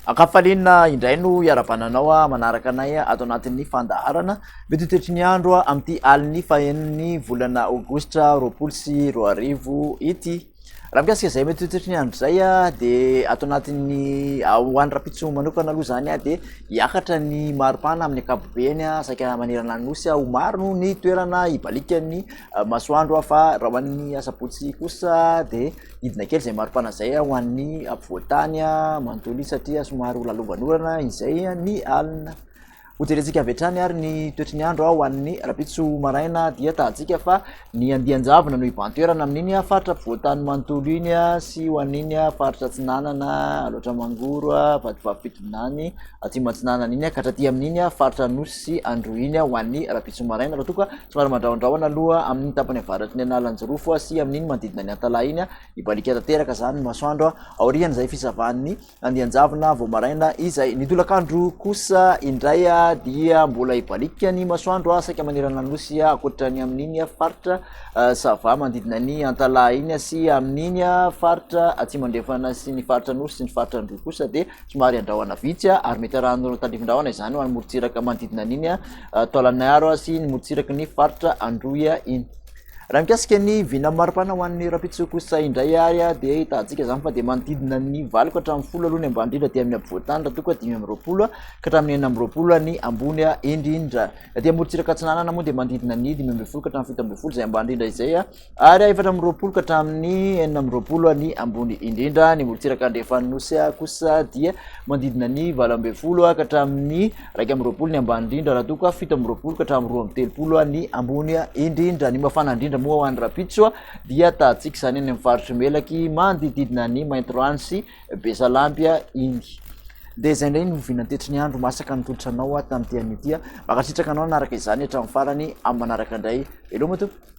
Ankafaliana indray no hiaravana anao ah, manaraka anay ah, ato anatin'ny fandaharana mety toetry ny andro ah, amin'ity alin'ny fahenin'ny volana aogositra roapolo sy roa arivo ity. Raha mikasika izay mety ho toetry ny andro izay dia ato anatin'ny ho an'ny rapitso manokana aloha izany a dia hiakatra ny maripana amin'ny ankapobeny a saika manerana ny nosy a ho maro noho ny toerana hibalikan'ny masoandro a fa raha ho an'ny asabotsy kosa dia hidina kely izay maripana izay a ho an'ny ampovoantany a manontolo izy satria somary ho lalovan'orana izay ny alina Hojerentsika avy hatrany ary ny toetry ny andro ho an'ny rapitso maraina dia tahantsika fa ny andian-javona no hibantoerana amin'iny faritra ampovoan-tany manontolo iny sy ho an'iny faritra atsinanana loatra mangoro vadivavy fitonany atsimo atsinanana iny ka hatraty amin'iny faritra anosy sy andro iny ho an'ny rapitso maraina raha toa ka somary mandrahondrahona aloha amin'ny tapany avaratry ny analanjirofo sy amin'iny manodidina ny antalaha iny hibalika tanteraka izany ny masoandro aorian'izay fisavan'ny Andian-javona vao maraina izay. Ny tolakandro kosa indray dia mbola hibaliaka ny masoandro saika manerana ny nosy ankoatra ny amin'iny faritra Sava manodidina ny Antalaha iny sy amin'iny faritra Atsimo-Andrefana sy ny faritra Anosy sy ny faritra Androy kosa dia somary andrahona vitsy ary mety arahana tandrifin-drahona izany ho an'ny morontsiraka manodidina an'iny Taolagnaro sy ny morontsiraky ny faritra Androy iny. Raha mikasika ny vina mari-pana ho an'ny rahampitso kosa indray ary dia ahitantsika izany fa dia manodidina ny valo ka hatramin'ny folo aloha ny ambany indrindra dia amin'ny ampovoan-tany raha toa ka dimy amby roapolo ka hatramin'ny enina amby roapolo ny ambony indrindra. Aty amorontsiraka atsinanana moa dia manodidina ny dimy ambin'ny folo ka hatramin'ny fito ambin'ny folo izay ambany indrindra izay ary efatra amby roapolo ka hatramin'ny enina amby roapolo ny ambony indrindra. Ny amorontsiraka andrefan'ny nosy kosa dia manodidina ny valo ambin'ny folo ka hatramin'ny Iraika amby roapolo ny ambany indrindra raha toa ka fito amby roapolo ka hatramin'ny roa amby telopolo ny ambony indrindra. Ny mafana indrindra moa ho any Rapitso dia tahantsika izany any amin'ny faritry Melaky manodididina ny Maintirano sy Besalampy iny. Dia izay indray no vinantetry ny andro masaka nitolotra anao tamin'ity anio ity. Mankasitraka anao naraka izany hatramin'ny farany amin'ny manaraka indray. Veloma tompoko.